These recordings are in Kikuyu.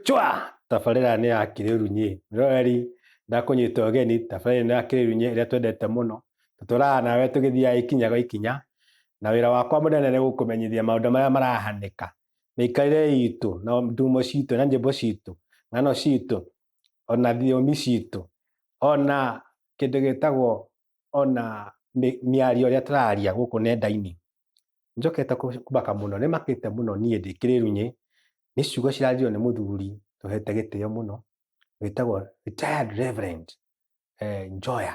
chwa tabarĩra nĩ ya kĩrĩru nyĩ roreri ndakũnyita ũgeni tabarĩra nĩ ya kĩrĩru nyĩ ĩrĩa twendete mũno tũtũraga nawe tũgĩthiaga ikinya gwa ikinya na wĩra wakwa mũnene nĩ gũkũmenyithia maũndũ marĩa marahanĩka mĩikarĩre itũ na ndumo citũ na njĩmbo citũ ng'ano citũ ona thiomi citũ ona kĩndũ gĩtagwo ona mĩario ĩrĩa tũraria gũkũ nenda-inĩ njokete kũmaka mũno nĩ makĩte mũno niĩ ndĩ kĩrĩrunyĩ nĩ ciugo cirario nĩ mũthuri tũhete gĩtĩo mũno wĩtagwo retired reverend eh, Njoya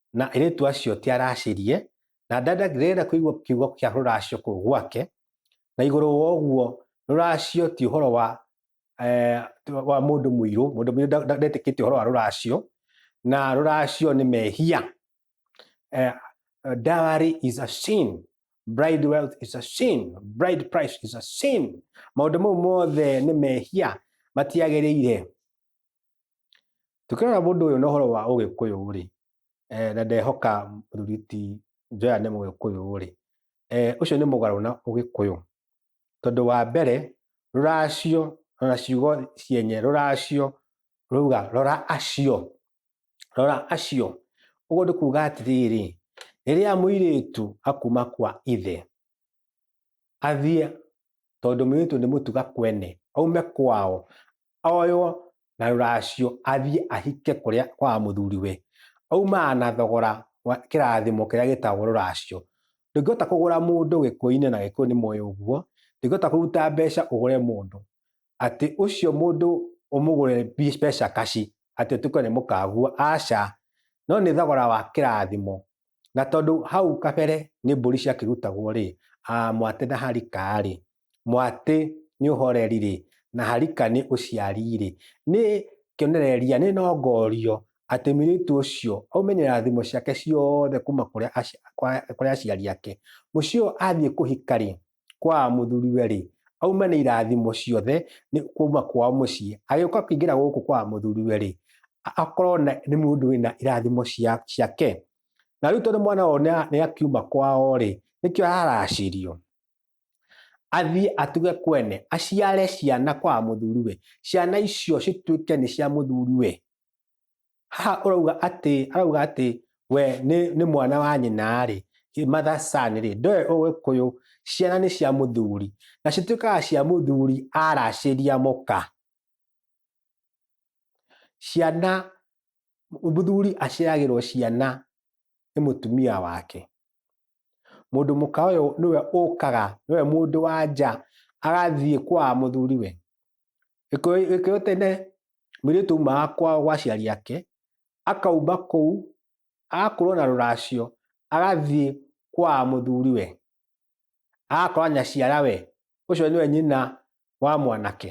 na airĩtu acio ti aracirie, na Dada ndĩrenda kũigua kiugo kĩa rũracio kũu gwake, na igũrũ wa ũguo rũracio ti ũhoro wa eh, wa mũndũ mũirũ, mũndũ mũirũ nda- nda- ndetĩkĩtie ũhoro wa rũracio, na rũracio nĩ mehia. Eh, dowry is a sin, bride wealth is a sin, bride price is a sin. Maũndũ mau mothe nĩ mehia matiagĩrĩire. Tũkĩrora mũndũ ũyũ na ũhoro wa ũgĩkũyũ-rĩ, na ndehoka mũthuri ti Joya nĩ mũgĩkũyũ-rĩ, ũcio nĩ mũgarũ na ũgĩkũyũ. Tondũ wa mbere, rũracio ona ciugo cienye, rũracio rũrauga rora acio, rora acio. Ũguo nĩ kuga atĩrĩrĩ, rĩrĩa mũirĩtu akuma kwa ithe, athiĩ tondũ mũirĩtu nĩ mũtuga kwene, aume kwao, oywo na rũracio athiĩ ahike kũrĩa kwa mũthuriwe. Aumaga na thogora wa kĩrathimo kĩrĩa gĩtagwo rũracio. Ndũngĩhota kũgũra mũndũ gĩkũyũ-inĩ na gĩkũyũ nĩ moĩ ũguo. Ndũngĩhota kũruta mbeca ũgũre mũndũ. Atĩ ũcio mũndũ ũmũgũre mbeca kaci atĩ ũtuĩke nĩ mũkagua, aca. No nĩ thogora wa kĩrathimo. Na tondũ hau kabere nĩ mbũri ciakĩrutagwo rĩ, mwatĩ na harika rĩ, mwatĩ nĩ ũhoreri-rĩ, na harika nĩ ũciari-rĩ, nĩ kĩonereria, nĩ nongorio atĩ mũirĩtu ũcio aumenyera thimo ciake ciothe kuma kũrĩa kũrĩ aciari ake. Mũciĩ ũyũ athiĩ kũhika-rĩ, kwa mũthuriwe-rĩ, auma na irathimo ciothe kuma kwao mũciĩ. Agĩũka kũingĩra gũkũ kwa mũthuriwe-rĩ, akorwo nĩ mũndũ wĩna irathimo ciake. Na rĩu tondũ mwana ũyũ nĩakiuma kwao-rĩ, nĩkĩo araracĩrio. athiĩ atuge kwene aciare ciana kwa mũthuriwe ciana icio cituĩke nĩ cia mũthuriwe haha ũrauga atĩ arauga atĩ we nĩ, nĩ mwana wa nyina rĩ mother son rĩ ndoe ũgĩkũyũ ciana nĩ cia mũthuri na cituĩkaga cia mũthuri aracĩria mũka ciana mũthuri aciaragĩrwo ciana nĩ mũtumia wake mũndũ mũka ũyũ nĩwe ũkaga nĩwe mũndũ wa nja agathiĩ kwa mũthuri we gĩkĩyũ tene mũirĩtu aumaga kwao gwa aciari ake akaumba kũu agakorwo na rũracio agathiĩ kwa mũthuri we agakora nyaciara we ũcio nĩwe nyina wa mwanake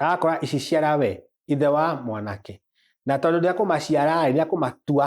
agakora ici ciara we ithe wa mwanake na tondũ ndakũmaciara rĩ ndakũmatua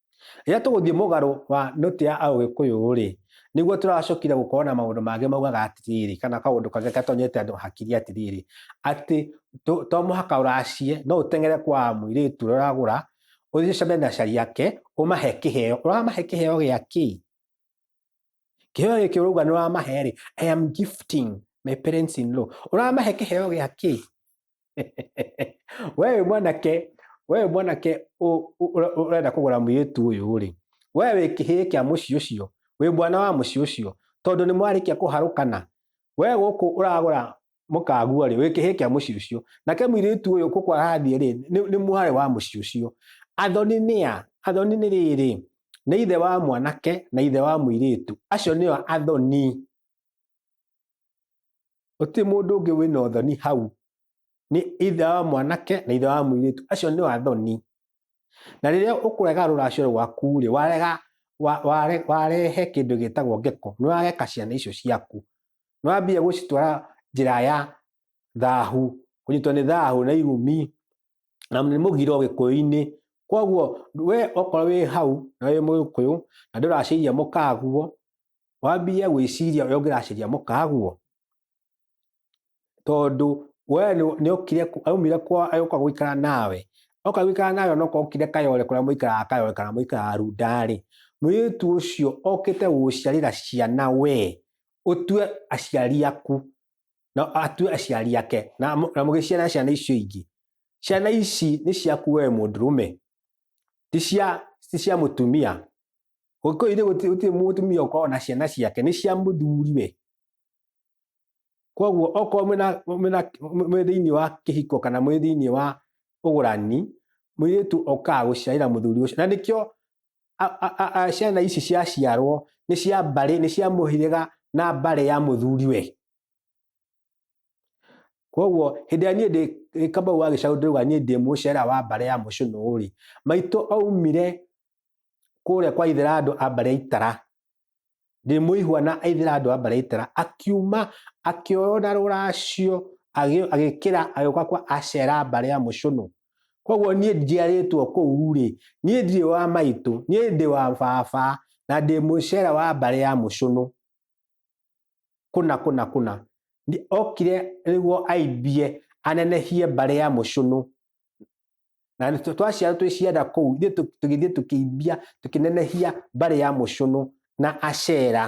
rĩrĩa tũgũthiĩ mũgarũ wa nũtĩ ya aũgĩkũyũ-rĩ nĩguo tũracokire gũkorwo na maũndũ mangĩ maugaga atĩrĩrĩ kana kaũndũ kangĩ gatonyete andũ hakiri atĩrĩrĩ atĩ to mũhaka ũracie no ũteng'ere kwa mũirĩtu ũragũra ũthiĩ ũcemane na cari yake ũmahe kĩheo ũramahe kĩheo gĩa kĩ kĩheo gĩkĩ ũrauga nĩ ũramahe rĩ I am gifting my parents in law ũramahe kĩheo gĩa kĩ we wĩ mwanake we wĩ mwanake ũ- ũ- ũre- ũrenda kũgũra mũirĩtu ũyũ rĩ we wĩ kĩhĩĩ kĩa mũciĩ ũcio wĩ mwana wa mũciĩ ũcio tondũ nĩ mwarĩkia kũharũkana we gũkũ ũragũra mũkagua rĩ wĩ kĩhĩĩ kĩa mũciĩ ũcio nake mũirĩtu ũyũ gũkũ arathiĩ rĩ nĩ nĩ mwarĩ wa mũciĩ ũcio athoni nĩa athoni nĩ rĩrĩ nĩ ithe wa mwanake na ithe wa mũirĩtu acio nĩo athoni gũtirĩ mũndũ ũngĩ wĩna ũthoni hau nĩ ithe wa mwanake na ithe wa mũirĩtu acio nĩ athoni na rĩrĩa ũkũrega rũracio rwaku rĩ warega wa- ware- warehe kĩndũ gĩtagwo ngeko nĩ wageka ciana icio ciaku nĩ wambia gũcitwara njĩra ya thahu kũnyitwo nĩ thahu na irumi na nĩ mũgiro gĩkũyũ-inĩ kwoguo we okorwo wĩ hau na wĩ mũgĩkũyũ na ndũracĩiria mũkaguo wambie gwĩciria ũrĩa ũngĩracĩria mũkaguo tondũ we nĩ- nĩ okire ku- aumire kwa agĩũka gũikara nawe oka gũikara nawe onoka okire kayore kũrĩa mũikaraga kayore kana mũikaraga rundarĩ mũirĩtu ũcio okĩte gũgũciarĩra ciana we ũtue aciari aku na atue aciari ake na mũ- na mũgĩciara ciana icio ingĩ ciana ici nĩ ciaku we mũndũrũme ti cia ti cia mũtumia Gũkũire gũtirĩ mũtumia ũkoragwo na ciana ciake nĩ cia mũthuri we. Koguo okorwo mwĩ thĩinĩ wa kĩhiko kana mwĩ thĩinĩ wa ũgũrani, mũirĩtu okaga gũciarĩra mũthuri ũcio. Na nĩkĩo ciana ici ciaciarwo nĩ cia mbarĩ, nĩ cia mũhĩrĩga na mbarĩ ya mũthuri we. Koguo hĩndĩ ĩrĩa niĩ ndĩ Kamau wa gĩcaũ ndĩrauga niĩ ndĩ mũcera wa mbarĩ ya mũcũnũ rĩ, maitũ aumire kũrĩa kwa ithĩra andũ a mbarĩ ya itara ndĩmũihwa na ithĩra andũ a mbarĩ ya itara akiuma akĩoywo na rũracio agĩ- agĩkĩra agĩũka kwa acera mbarĩ ya mũcũnũ koguo niĩ njiarĩtwo kũu rĩ niĩ ndirĩ wa maitũ niĩ ndĩ wa baba na ndĩ mũcera wa mbarĩ ya mũcũnũ kũna kũna kũna Nĩ- okire nĩguo aimbie anenehie mbarĩ ya mũcũnũ na nĩ- twaciarwo twĩ cianda kũu ithuĩ tũ- tũgĩthiĩ tũkĩimbia tũkĩnenehia mbarĩ ya mũcũnũ na acera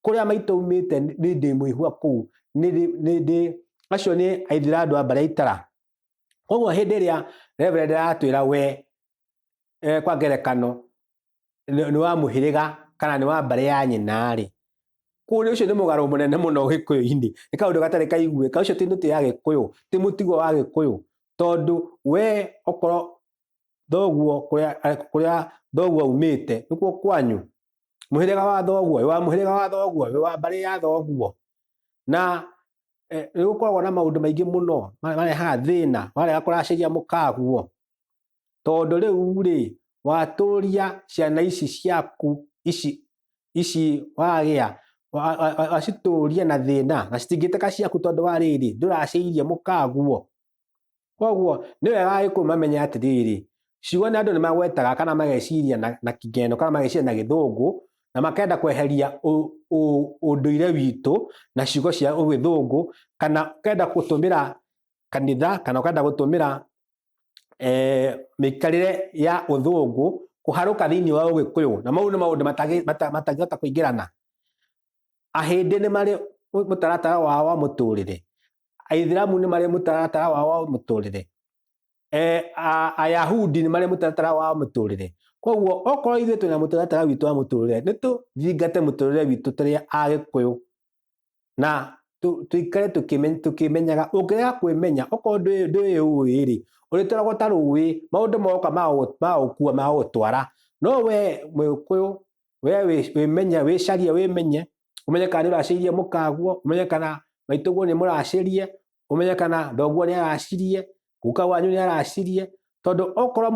kũrĩa maitũ aumĩte nĩ- nĩ ndĩ mwĩhua kũu nĩ ndĩ- nĩ ndĩ acio nĩ aithira andũ a mbarĩ ya itara koguo hĩndĩ ĩrĩa reverend aratwĩra we eh, kwa ngerekano nĩ wa mũhĩrĩga kana nĩ wa mbarĩ ya nyina-rĩ, kũrĩ ũcio nĩ mũgarũ mũnene mũno gĩkũyũ-inĩ, nĩ kaũndũ gatarĩ kaiguĩka, ũcio ti mĩtĩ ya gĩkũyũ, ti mũtugo wa gĩkũyũ, tondũ we okorwo thoguo kũrĩa thoguo aumĩte nĩkuo kwanyu, mũhĩrĩga wa thoguo, wĩ wa mũhĩrĩga wa thoguo, wĩ wa mbarĩ ya thoguo, na nĩ gũkoragwo na maũndũ maingĩ mũno marehaga thĩna warega kũracĩria mũkaguo. Tondũ rĩu rĩ, watũria ciana ici ciaku ici ici wagĩa wacitũria na thĩna na citingĩtĩka ciaku tondũ wa rĩrĩ ndũraciirie mũkaguo. Koguo nĩ wega Agĩkũyũ mamenye atĩrĩrĩ, ciugo nĩ andũ nĩ magwetaga kana mageciria na kĩng'eno kana mageciria na gĩthũngũ na makenda kweheria ũndũire witũ na ciugo cia ũgĩthũngũ kana ũkenda gũtũmĩra kanitha kana ũkenda gũtũmĩra eh, mikarire ya uthungu kuharuka thiini wa ugikuyu na mau ni maundu matangihota kuingirana ahindi ni mari mutaratara wa wa muturire aithiramu ni mari mutaratara wa wa muturire eh, ayahudi ni mari mutaratara wa muturire koguo okorwo ithuĩ twĩna mũtaratara witũ wa mũtũrĩre nĩ tũthingate mũtũrĩre witũ tũrĩ agĩkũyũ na tuikare tukimenyaga ũngĩrega kwĩmenya okorwo ndũĩ ũĩ rĩ ũrĩtwaragwo ta rũĩ maũndũ moka magũkua magũtwara no we mũgĩkũyũ we wĩmenye wĩcarie wĩmenye ũmenye kana nĩ ũracĩirie mũkaguo ũmenye kana maitũguo nĩ mũracĩrie ũmenye kana thoguo nĩ aracirie guka wanyu nĩ aracirie tondũ okorwo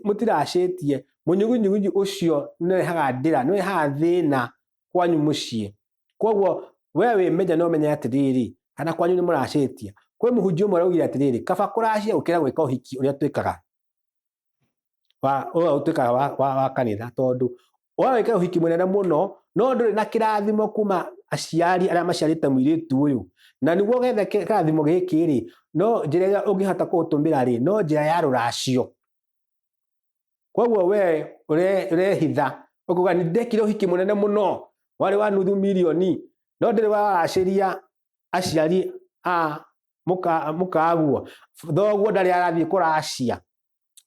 mũtiracĩtie mũnyugunyugunyu ũcio nĩ ũrehaga ndĩra nĩ ũrehaga thĩna kwanyu mũciĩ koguo we wĩ menya no menya atĩrĩrĩ kana kwanyu nĩ mũracĩtia kwĩ mũhunjia ũmwe araugire atĩrĩrĩ kaba kũracia gũkĩra gwĩka ũhiki ũrĩa twĩkaga wa ũrĩa ũtuĩkaga wa, wa, wa kanitha tondũ ũrĩa wĩka ũhiki mũnene mũno no ndũrĩ na kĩrathimo kuma aciari arĩa maciarĩte mũirĩtu ũyũ na nĩguo gethe kĩ- kĩrathimo gĩkĩ rĩ no njĩra ĩrĩa ũngĩhota kũũtũmĩra rĩ no njĩra ya rũracio koguo we ũre- ũrehitha ũkuga nĩ ndekire ũhiki mũnene mũno warĩ wa nuthu milioni no ndĩrĩ waracĩria aciari a mũka- mũkaguo thoguo ndarĩ arathiĩ kũracia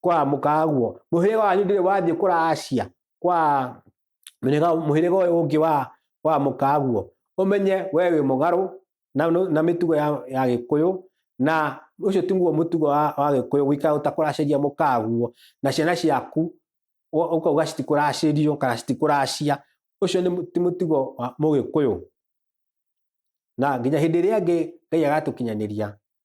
kwa mũkaguo mũhĩrĩga wanyu ndĩrĩ wathiĩ kũracia kwa mũhĩrĩga mũhĩrĩga ũyũ ũngĩ wa wa mũkaguo ũmenye we wĩ mũgarũ na, na mĩtugo ya, ya gĩkũyũ na ũcio tiguo mũtugo wa, wa gĩkũyũ gũikara ũtakũracĩria mũkaguo na ciana ciaku ũkauga citikũracĩrio kana citikũracia ũcio nĩ ti mũtugo wa mũgĩkũyũ na nginya hĩndĩ ĩrĩa ngĩ ngai agatũkinyanĩria